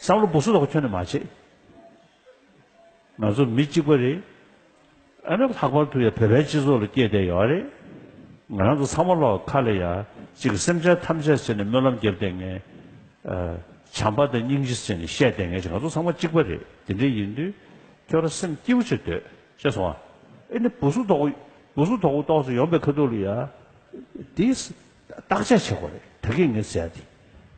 བསམ་བློ་སྦུག་སུ་དོག་ཁྱོད་ནས་མ་བྱེད། ང་ཚོ་མི་གཅིག་པ་རེད། ཨ་ནུ་ལྷག་པར་དུ་ཡང་བོད་པའི་སྤྱི་ཚོགས་ལ་སྐྱེས་བསྡད་ཡོད་རེད། ང་རང་ཚོ་ཚང་མ་ལོག་ཁ་ལ་ཡ་གཅིག་གི་སེམས་ཅན་ཐམས་ཅད་ཟེར་ནས་སྨོན་ལམ་བརྒྱབ་བསྡད་ངེས། བྱམས་པ་དང་སྙིང་རྗེ་ཟེར་ནས་བཤད་བསྡད་ངེས་ཀྱི་ང་ཚོ་ཚང་མ་གཅིག་པ་རེད་དེ་འདྲ་ཡིན་དུས་ཁྱོད་རང་སེམས་སྐྱིད་པོ་བྱེད་འདོད་ཤེས་སོང་ཨ་ཨེ་ནི་སྦུག་སུ་དོག་སྦུག་སུ་དོག་དོག་ཟེར་ཡོང་པའི་ཁ་ཐུག་ལ་ཡ་དེས་བརྟག་དཔྱད་བྱེད་དགོས་རེད་ད་གིས་ངས་ཟེར་ཡ་དེ།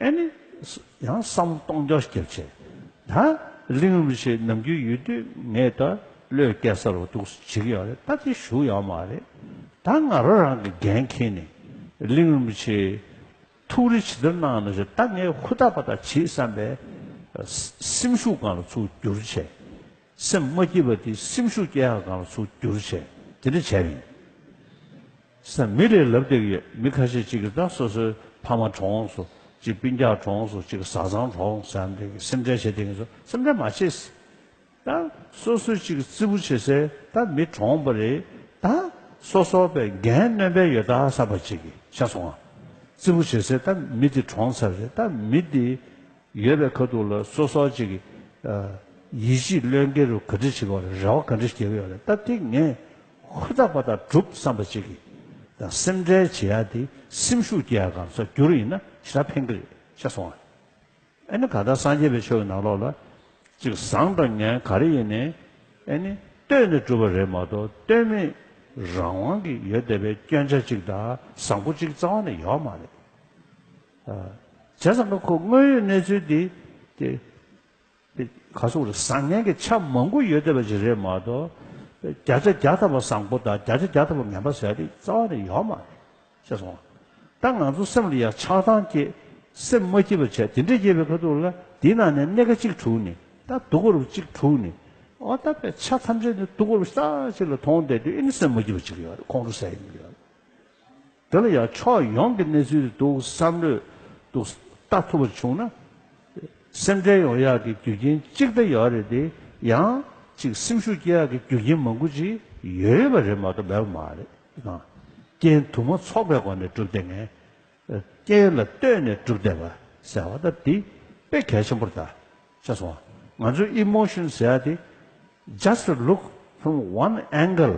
ཨེ་ནི། ཡང་བསམ་བློ་གཏོང་རྒྱ་སྐྱེད་ཆེད་ད་གླིང་རུ་ཆེ་ནམ་རྒྱུན་ཡོད་དུས་ངས་ད་བློས་སྐད་གསར་བ་འདུག་ཟེར་གྱི་ཡོད་རེད་ད་དེ་ཞུ་ཡག་མ་རེད་ད་ང་རོ་རང་གི་འགན་འཁྱེར་ནས་གླིང་རུ་ཆེ་ཐུགས་རེ་ཇི་ལྟར་གནང་ན་བྱོས་ད་ངས་ཧུར་ཐག་པ་ཐག་བྱེད་བསམ་པའི་སེམས་ཤུགས་གང་ལ་ཚུགས་རྒྱུར་བྱས། སེམས་མ་སྐྱིད་པ་དེ་སེམས་ཤུགས་སྐྱེད་ཡག་གང་ལ་ཚུགས་རྒྱུར་བྱས་དེ་འདྲ་བྱས་ཡིན། སེམས་མི་རེ་ལབ་བརྡེགས་ཡོད་མི་ཁ་ཤས་ཅིག་གིས་ད་སོ་སོའི་ཕ་མ་གྲོངས་སོ་ཅིག་སྤུན་རྒྱག་གྲོངས་སོ་ཅིག་བཟའ་ཚང་གྲོངས་སོ་ཨམ་རེ་གིས་སེམས་ཁྲལ་བྱེད་བསྡད་ཀྱིན་སོང་སེམས་ཁྲལ་མ་བྱེད། ད་སོ་སོའི་ཅིག་བརྩི་བུ་བྱེད་སའི་ད་མི་གྲོངས་པ་རེད་ད་སོ་སོ་པའི་འགན་གནོན་པའི་ཡོད་ད་གསར་པ་ཅིག་གིས་ཤ་ཚོང་བརྩི་བུ་བྱེད་སའི་ད་མི་དེ་གྲོངས་ཚར་རེད་ད་མི་དེ་ཡོད་པའི་ཁ་ཐུག་ལ་སོ་སོ་ཅིག་གིས་ཡིད་ཆེས་བློས་འགེལ་རུ་ག་འདྲི་བྱེད་དགོས་རེད་རེ་བ་ག་འདྲི་བསྐྱེལ་གི་ཡོད་རེད་ད་དེ་ངས་ཧུར་ཐག་པ་དང་སྒྲུབ་བསམ་པ་ཅིག་གིས་དང་སེམས་ཁྲལ་བྱེད་ཡ་དེ་སེམས་ཤུགས་སྐྱེ་ཡ་གམ་སོགས་བསྒྱུར་ཡིན་ན་ཇི་ལྟར་ཕན་གི་རེད་ཤེས་སོང་ཨ། ཨ་ནི་ག་ལྟར་སངས་རྒྱས་པའི་ཆོས་ཀྱི་ནང་ལོགས་ལ་ཅིག་བཟང་དང་ངན་ག་རེ་ཡིན་ནས་ཨ་ནི་ལྟོས་ནས་བསྒྲུབ་པ་རེད་མ་གཏོགས་ལྟོས་མེད་རང་དབང་གི་ཡོད་བསྡད་པའི་སྐྱོན་ཆ་ཅིག་དང་བཟང་པོ་ཅིག་རྩ་བ་ནས་ཡོད་མ་རེད། བྱས་ཙང་ཁོ་དངོས་ཡོད་གནས་ཚུལ་དེ་དེ་དེ་ག་སོགས་རེད་བཟང་ངན་གྱི་ཆ་མང་པོ་ཡོད་བསྡད་པ་ཞིག་རེད་མ་གཏོགས། བརྒྱ་ཆ་བརྒྱ་ཐ་བ་བཟང་པོ་དང་བརྒྱ་ཆ་བརྒྱ་ཐ་བ་ངན་པ་ཟེར་བ་དེ་རྩ་བ་ནས་ཡོད་མ་རེད། ཤེས་སོང་ངམ། ད་ང་ཚོ་སེམས་ལ་ཡང་ཆགས་སྡང་སྐྱེས། སེམས་མ་སྐྱིད་པ་བྱས་དེ་འདྲས་སྐྱེས་པའི་ཁ་ཐུག་ལ་དེའི་ནང་ནས་སྣེ་ཁ་གཅིག་དྲུག་ནི་ད་དུག་ཁོར་བུ་གཅིག་དྲུག་ནི། འོ་ད་པའི་ཆ་ཐམས་ཅད་ནི་དུག་ཁོར་བུ་ཤྟག་ཅིག་ལ་མཐོང་བསྡད་དུས་ཨེ་ནི་སེམས་མ་སྐྱིད་པ་ཅིག་ཡོད་རེད་ཁོང་ཁྲོ་ཟེར་ཡི་མི་ཡོད་རེད། དེ་ལ་ཡང་ཕྱོགས་ཡོངས་ཀྱི་གནས་ཚུལ་འདུག་བསམ་བློས་འདུག་ལྟ་ཐུབ་པར་བྱུང་ན། སེམས་ཁྲལ་ཡོང་ཡག་གི་རྒྱུ་རྐྱེན་གཅིག་དེ་ཡོད་རེད་དེ། ཡང་གཅིག་སེམས་ཤུགས་སྐྱེ་ཡག་གི་རྒྱུ་རྐྱེན་མང་པོ་ཅིག་ཡོད་པ་རེད་མ་གཏོགས་མེད་པ་མ་རེད། རྐྱེན་དུ་མ་ཚོགས་པའི་སྒོ་ནས་སྒྲུབ་བདེ་ངེས། རྐྱེན་ལ་ལྟོས་ནས་སྒྲུབ་བདེ་བ་ཟེར་བ་ལྟར་དེ་དཔེ་གལ་ཆེན་པོར་བལྟ། ཆ་སོང་བ། ང་ཚོས emotion ཟེར་བ་དེ just look from one angle།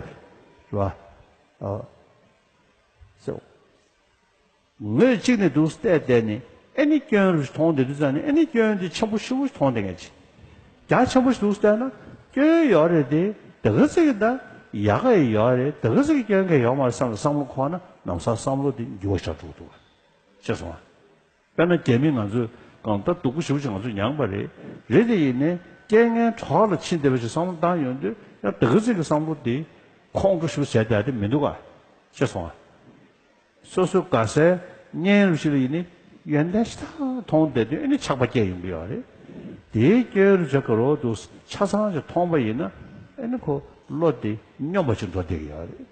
རེད་བ། ཟེར། ངོས་གཅིག་ནས་འདུག་སྟེ་བསྡད་ནས་ཨེ་ནི་སྐྱོན་རུ་མཐོང་བསྡད་དུས་ཙང་ནས་ཨེ་ནི་སྐྱོན་དེ་ཆེན་པོ་ཧྲིལ་བོ་ཞིག་མཐོང་བསྡད་མཁན་གྱི་རྒྱ་ཆེན་པོ་ཞིག་འདུག་བསྡད་ན་སྐྱོན་ཡོད་རེད་དེ་དེ་ག་ཟིག་གི་ད་ཡག་ག་ཡི་ཡོད་རེད་དེ་ག་ཟིག་གི་སྐྱོན་ག་ཡོད་མ་རེད་བསམ་ལ་བསམ་བློ་འཁོར་ན་ནམ་སང་བསམ་བློ་དེ་འགྱུར་བ་ཆགས་འགྲོ་གི་འདུག་བ་ཤེས་སོང་ང་དཔེར་ན་རྒྱ་མིས་ང་ཚོས་གང་ལྟར་སྡུག་པོ་ཞུགས་ཅིག་ང་ཚོས་མྱངས་པ་རེད། རེད་དེ་ཡིན་ནས་རྐྱེན་ངན་གྲོགས་ལ་ཕྱིན་བདེ་བ་ཞིག་བསམ་བློ་བཏང་ཡོང་དུས་ཡང་དག་ཚིག་གི་བསམ་བློ་དེ་ཁོང་ཁྲོ་ཞུ་བྱེད་དེ་མི་འདུག་ག་ཤེས་སོང་ང་སོ་སོའི་དགའ་སའི་བརྙན་རུ་ཞིག་ལ་ཡིན་ནས་ཡོན་ཏན་ཞེ་ཐག་མཐོང་བསྡད་དུས་ཨེ་ནས་ཆགས་པ་སྐྱེས་ཡོང་གི་ཡོད་རེད། དེའི་སྐྱོན་རུ་བྱེད་ག་རོག་འདུག་ཆ་ཚང་ཞིག་མཐོང་པ་ཡིན་ན་ཨེ་ནས་ཁོ་བློ་དེ་སྙོམས་པ་ཞིག་འགྲོ་བསྡད་ཀྱི་ཡོད་རེད།